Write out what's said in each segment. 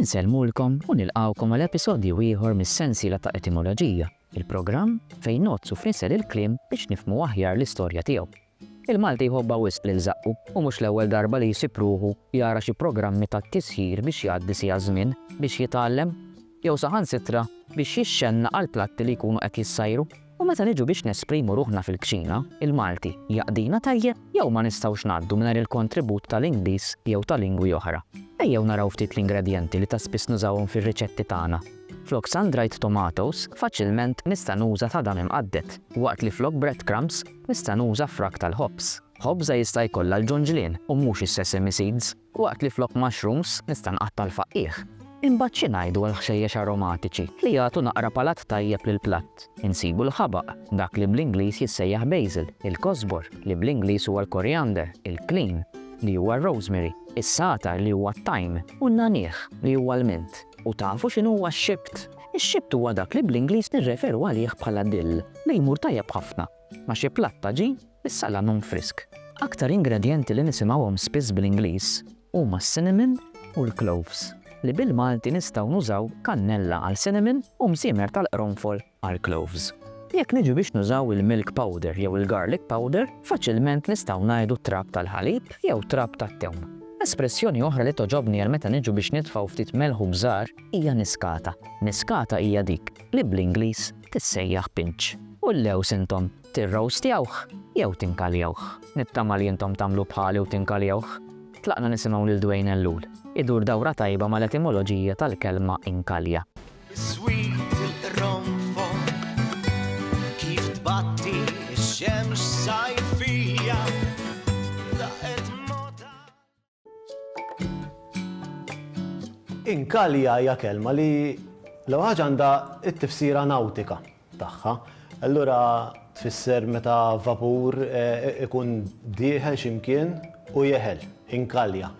Insellmulkom u nilqgħukom għal episodju ieħor mis-sensiela ta' Etimoloġija, il-programm fejn ngħoddsu f'nisel il-kliem biex nifhmu aħjar l-istorja tiegħu. Il-Malti jħobbha wisq lil żaqqu u mhux l-ewwel darba li jsib ruħu jara xi programmi ta' tisħir biex jgħaddi siegħa żmien biex jitgħallem jew saħansitra biex jixxennaq għall-platti li jkunu qed jissajru. U meta niġu biex nesprimu ruħna fil-kċina, il-Malti jaqdina tajjeb? Jew ma nistgħux ngħaddu mingħajr il-kontribut tal-Ingliż jew ta' lingwi oħra? Ejjew naraw ftit l-ingredjenti li ta' spiss nużawhom fir-riċetti tagħna. Flok sun-dried tomatoes, faċilment nista' nuża tadam imqadded, waqt li flok breadcrumbs nista' nuża frak tal-ħobż. Ħobża jista' jkollha l-ġunġlien u mhux is-sesame seeds. Waqt li flok mushrooms nista' nqatta' l-faqqiegħ. Imbagħad xi ngħidu għall-ħxejjex aromatiċi li jagħtu naqra palat tajjeb lill-platt? Insibu l-ħabaq, dak li bl-Ingliż jissejjaħ basil, il-kosbor, li bl-Ingliż huwa l-koriander, il-klin, li huwa r-rosemary, is-sagħtar li huwa t-thyme, u n-nagħniegħ, li huwa l-mint. U tafu x'inhuwa x-xibt? Ix-xibt huwa dak li bl-Ingliż nirreferu għalih bħala dill, li jmur tajjeb ħafna. Ma' xi platt ta' ġin, is-salam hu mfrisk. Aktar ingredjenti li nisimgħuhom spiss bl-Ingliż huma s-cinnamon u l-cloves, li bil-Malti nistgħu nużaw kannella għal cinnamon u msiemer tal-qronfol għal cloves. Jekk niġu biex nużaw il-milk powder jew il-garlic powder, faċilment nistgħu ngħidu trab tal-ħalib jew trab tat-tewm. Espressjoni oħra li togħġobni għal meta niġu biex nitfgħu ftit melħ u bżar, hija niskata. Niskata hija dik li bl-Ingliż tissejjaħ pinch. U llews intom tirrowstjawh jew tinkaljawh. Nittama li intom tagħmlu bħali u tinkaljawh. Tlaqna nisimgħu lil Dwayne Ellul idur dawra tajba mal-etimoloġija tal-kelma inkalja. Is-sweet il-qronfol kif tbatti x-xemx sajfija. Inkalja hija kelma li l-ewwel ħaġa għandha t-tifsira nawtika tagħha. Allura tfisser meta vapur ikun dieħel xi mkien u jeħel, inkalja.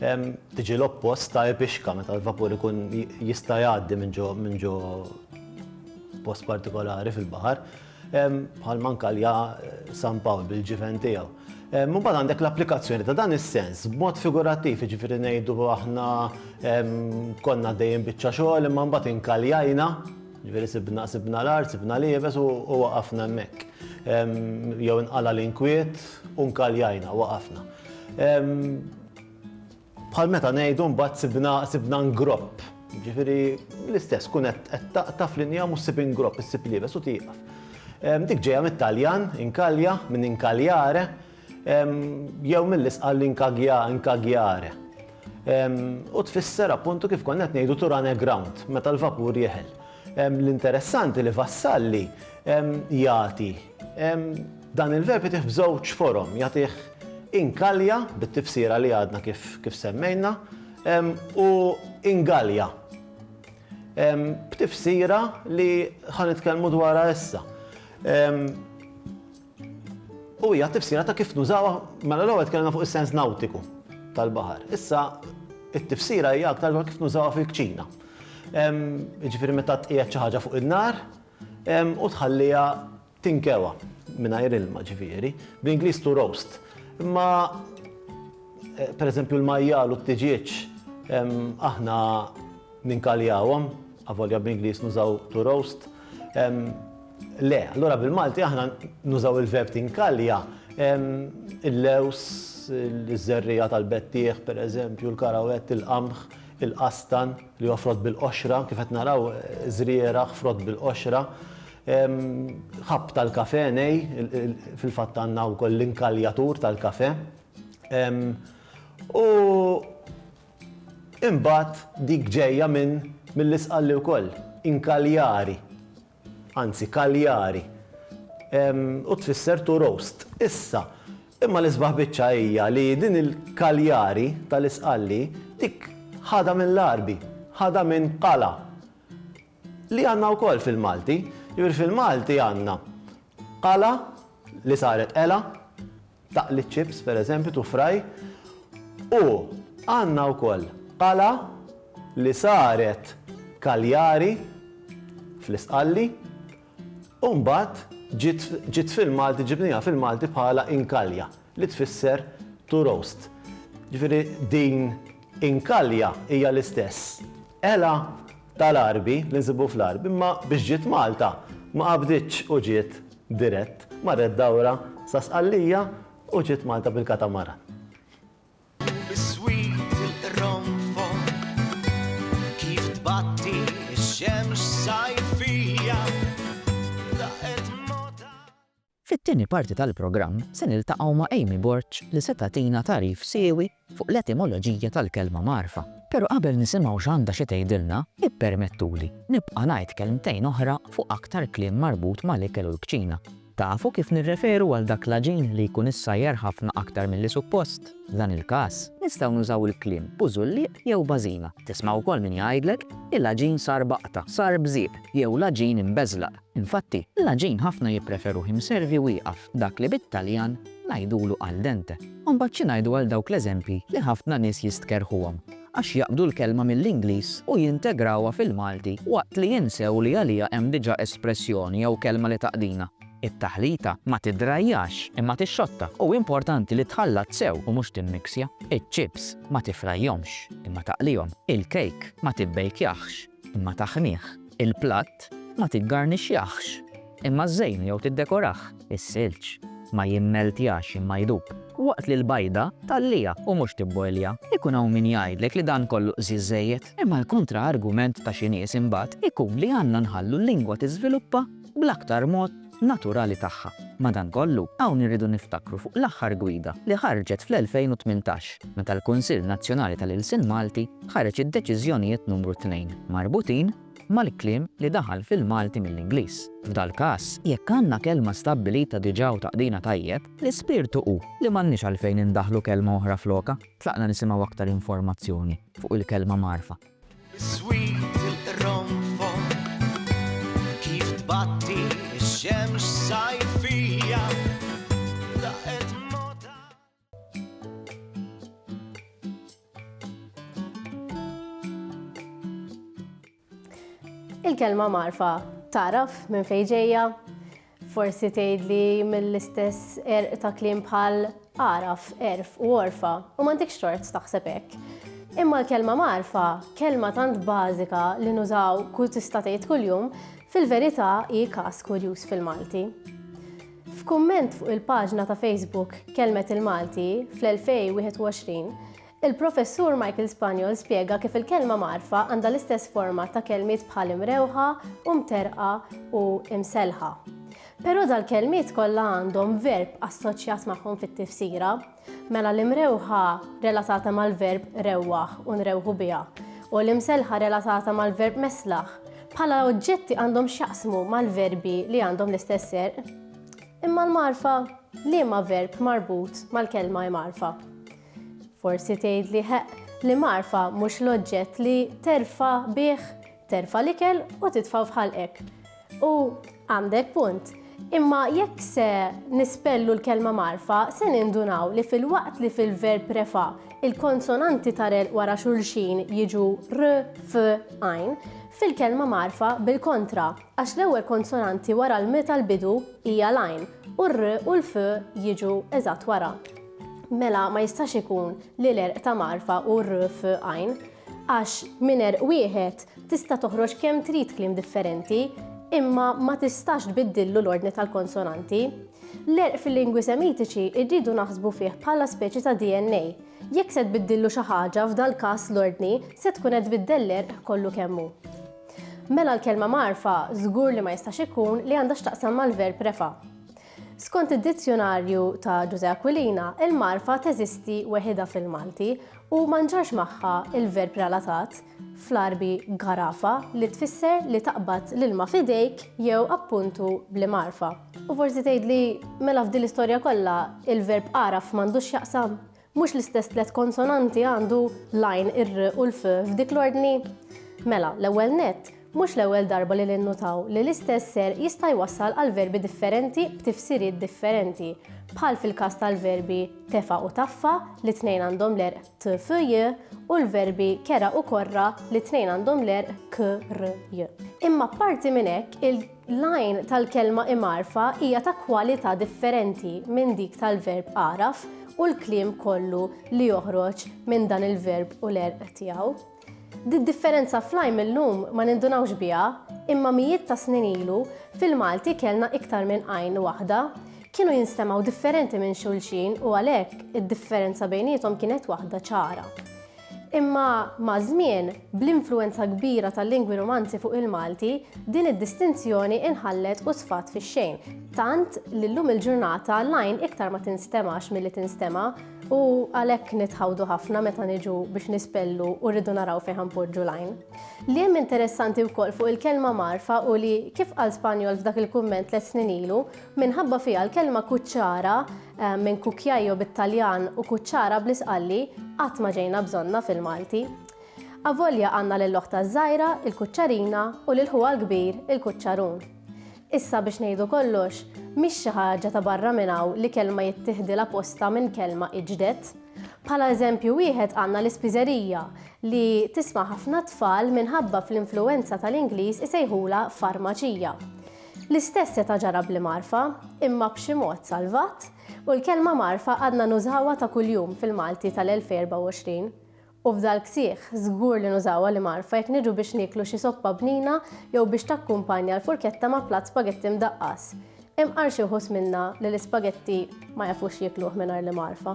Tiġi l-oppost ta' ipixka meta l-vapur ikun jista' jgħaddi minn ġo post partikolari fil-baħar. bħal ma nkalja San Pawl bil-ġiven tiegħu. Mbagħad għandek l-applikazzjoni ta' dan is-sens b'mod figurattiv, jiġifieri ngħidu aħna konna dejjem biċċa xogħol imma mbagħad inkaljajna Ġveri sibna sibna l-art, sibna libes u waqafna mek. Jew inqala l-inkwiet, unkaljajna, waqafna. Bħal meta ngħidu mbagħad sibna sibna ngropp. Jiġifieri l-istess tkun qed qed taqta' f'linja mhux ssib ingropp, issib liebes u tieqaf. Ehm, Dik ġejja mit-Taljan, inkalja, minn inkaljare, ehm, jew mill-isqal inkagja, inkagjare. Ehm, U tfisser appuntu kif konna qed ngħidu to run aground, meta l-vapur jeħel. Ehm, L-interessanti li Vassalli ehm, jagħti ehm, Dan il-verb jagħtih f'żewġ forom, jagħtih inkalja, bit-tifsira li għadna kif, kif semmejna, u ingalja, b'tifsira li ħa nitkellmu dwarha issa. U hija tifsira ta' kif nużawha, mela l-ewwel tkellimna fuq is-sens nawtiku tal-baħar. Issa it-tifsira hija aktar dwar kif nużawha fil-kċina. Jiġifieri meta tqiegħed xi ħaġa fuq in-nar u tħalliha Tinkewwa, mingħajr ilma ġifieri, bl-Ingliż to roast. Imma pereżempju l-majjal u t-tiġieġ aħna ninkaljawhom, avolja bl-Ingliż nużaw to roast. Le, allura bil-Malti aħna nużaw il-verb tinkalja il-lews, iż-żerriegħa tal-bettieħ pereżempju, l-karawett, il-qamħ, il-qastan li huwa frott bil-qoxra, kif qed naraw żrieragħ frott bil-qoxra. Ħabb tal-kafè, nej, fil-fatt għandna wkoll l-inkaljatur tal-kafè. U imbagħad dik ġejja minn mill-Isqalli wkoll, inkaljari, anzi kaljari, u tfisser to roast. Issa, imma l-isbaħ biċċa hija li din il-kaljari tal-Isqalli dik ħadha mill-Għarbi, ħadha minn qala. Li għandna wkoll fil-Malti. Jiġifieri fil-Malti għandna qala li saret qela, taqli ċ-ċips pereżempju, to fry, u għandna wkoll qala li saret kaljari fl-Isqalli, U mbagħad ġiet fil-Malti, ġibniha fil-Malti bħala inkalja, li tfisser to roast. Ġifieri din inkalja hija l-istess għela tal-għarbi li nsibu fl-għarb, imma biex ġiet Malta ma qabditx u ġiet dirett, marret dawra sa Sqallija u ġiet Malta bil-katamaran. Fit-tieni parti tal-programm se niltaqgħu ma' Amy Borg li se tagħtina tagħrif siewi fuq l-etimoloġija tal-kelma mgħarfa. Però qabel nisimgħu x'għandha xi tgħidilna, ippermettuli nibqa' ngħid kelmtejn oħra fuq aktar kliem marbut mal-ikel u l-kċina. Tafu kif nirreferu għal dak l-għaġin li jkun issajjar ħafna aktar milli suppost? F'dan il-każ, nistgħu nużaw il-kliem bużullieq jew bażina. Tisma' wkoll min jgħidlek, Il-għaġin sar baqta, sar bżieq, jew l-għaġin imbeżlaq. Infatti, l-għaġin ħafna jippreferuh imservi u ieqaf, dak li bit-Taljan ngħidulu al dente. U mbagħad xi ngħidu għal dawk l-eżempji li ħafna nies jistkerrħuhom? għax jaqbdu l-kelma mill-Ingliż u jintegrawha fil-Malti waqt li jinsew li għaliha hemm diġà espressjoni jew kelma li taqdina. It-taħlita ma tiddrajjax imma tixxotta u importanti li tħallat sew u mhux timmiksja. Iċ-ċips ma tifrajhomx imma taqlihom. Il-kejk ma tibbejkjaħx imma taħmih. Il-platt ma tiggarnixxjaħx Imma ż-żejn jew tiddekorah. Is-silġ ma jimmeltjax imma jdub. Waqt li l-bajda tgħalliha u mhux tibbojlja. Ikun hawn min jgħidlek li dan kollu qżież żejjed. Imma l-kontra argument ta' xi nies imbagħad ikun li għandna nħallu l-lingwa tiżviluppa bl-aktar mod naturali tagħha. Madankollu, hawn irridu niftakru fuq l-aħħar gwida li ħarġet fl-2018 meta l-Kunsill Nazzjonali tal-Ilsien Malti ħareġ id-Deċiżjonijiet Numru Tnejn marbutin mal-kliem li daħal fil-Malti mill-Ingliż. F'dal-każ, jekk għandna kelma stabbilita diġà u taqdina tajjeb, l-ispirtu hu li m'għandniex għalfejn indaħħlu kelma oħra flokha. Tlaqna nisimgħu aktar informazzjoni fuq il-kelma mgħarrfa. Biswit il-qronfol kif tbatti x-xemx sajfija. Il-kelma marfa taraf minn fejn ġejja, forsi tgħidli mill-istess erq ta' kliem bħal araf, erf u orfa, u m'għandekx tort taħseb hekk. Imma l-kelma marfa, kelma tant bażika li nużaw kull tista' tgħid kuljum, fil-verità hi każ kurjuż fil-Malti. F'kumment fuq il-paġna ta' Facebook Kelmet il-Malti fl-2021, il-Professur Michael Spaniol spjega kif il-kelma mgħarrfa għandha l-istess forma ta' kelmiet bħal imrewħa u mterrqa u imsellħa. Però dal-kelmiet kollha għandhom verb assoċjat magħhom fit-tifsira, Mela l-imrewħa relatata mal-verb rewwaħ u nrewħu biha u l-imselħa relatata mal-verb meslaħ bħala oġġetti għandhom x'jaqsmu mal-verbi li għandhom l-istess serq. Imma l-marfa liema verb marbut mal-kelma imarfa. Forsi tgħid li ħeq li marfa mhux l-oġġett li terfa bih terfa l-ikel u titfa' f'ħalqek. U għandek punt. Imma jekk se nispellu l-kelma marfa, se nindunaw li fil-waqt li fil-verb refa il-konsonanti tarel wara xulxin jiġu r, f, għajn, fil-kelma marfa bil-kontra, għax l-ewwel konsonanti wara l-m tal-bidu hija l-għajn u r u l-f jiġu eżatt wara. Mela ma jistax ikun li l-erq ta' marfa u r, f, għajn. Għax minn għerq wieħed tista' toħroġ kemm trid kliem differenti, imma ma tistax tbiddillu l-ordni tal-konsonanti. L-għerq fil-lingwi Semitiċi rridu naħsbu fih bħala speċi ta' DNA. Jekk se tbiddillu xi ħaġa, f'dal-każ l-ordni, se tkun qed tbiddel l-għerq kollu kemm hu. Mela l-kelma mgħarrfa żgur li ma jistax ikun li għandha x'taqsam mal-verb refa'. Skont id-Dizzjunarju ta' Ġużè Aquilina, il-magħrfa teżisti weħidha fil-Malti u ma nġarx magħha l-verb relatat, fl-Għarbi għarafa, li tfisser li taqbad l-ilma f'idejk jew appuntu bl-imgħarfa. U forsi tgħidli, mela f'din l-istorja kollha, il-verb għaraf m'għandux x'jaqsam? Mhux l-istess tliet konsonanti għandu l-għajn, ir-r u l-f f'dik l-ordni? Mela, l-ewwel nett, mhux l-ewwel darba li ninnutaw li l-istess ser jista' jwassal għal verbi differenti b'tifsiriet differenti, bħal fil-każ tal-verbi tefa' u taffa li t-tnejn għandhom l-erq t, f, j u l-verbi kera u korra li t-tnejn għandhom l-erq k, r, j. Imma apparti minn hekk, il. L-għajn tal-kelma imgħarrfa hija ta' kwalità differenti minn dik tal-verb agħraf u l-kliem kollu li joħroġ minn dan il-verb u l-għerq tiegħu. Did-differenza fl-għajn mil-lum ma nindunawx biha, imma mijiet ta' snin ilu fil-Malti kellna iktar minn għajn waħda. Kienu jinstemgħu differenti minn xulxin u għalhekk id-differenza bejniethom kienet waħda ċara. Imma maż-żmien, bl-influwenza kbira tal-lingwi Rumanzi fuq il-Malti, din id-distinzjoni inħallet u sfat fix-xejn, tant li llum il-ġurnata l-għajn iktar ma tinstemax milli tinstema' u għalhekk nitħawdu ħafna meta niġu biex nispellu u rridu naraw fejn ħanpoġġu l-għajn. Li hemm interessanti wkoll fuq il-kelma mgħarrfa hu li, kif qal Spanjol f'dak il-kumment tliet snin ilu, Minħabba fiha l-kelma kuċċara, minn cucchiaio bit-Taljan u kuċċara bl-Isqalli, qatt ma ġejna bżonnha fil-Malti. Avolja għandna lil oħtha ż-żgħira, il-kuċċarina, u lil ħuha l-kbir, il-kuċċarun. Issa biex ngħidu kollox, mhix xi ħaġa ta' barra minn hawn li kelma jittiħdilha postha minn kelma iġdet. Bħala eżempju wieħed għandna l-ispiżerija, li tisma' ħafna tfal minħabba fl-influwenza tal-Ingliż isejħulha farmaċija. L-istess seta' ġara bli Marfa, imma b'xi mod salvat, u l-kelma Marfa għadna nużawha ta' kuljum fil-Malti tal-2024. U f'dal-ksieħ, żgur li nużawha li Marfa jekk niġu biex nieklu xi soppa bnina jew biex takkumpanja l-furketta ma' platt spagetti mdaqqas. Imqar xi wħud minna li l-ispagetti ma jafux jiekluh mingħajr li Marfa.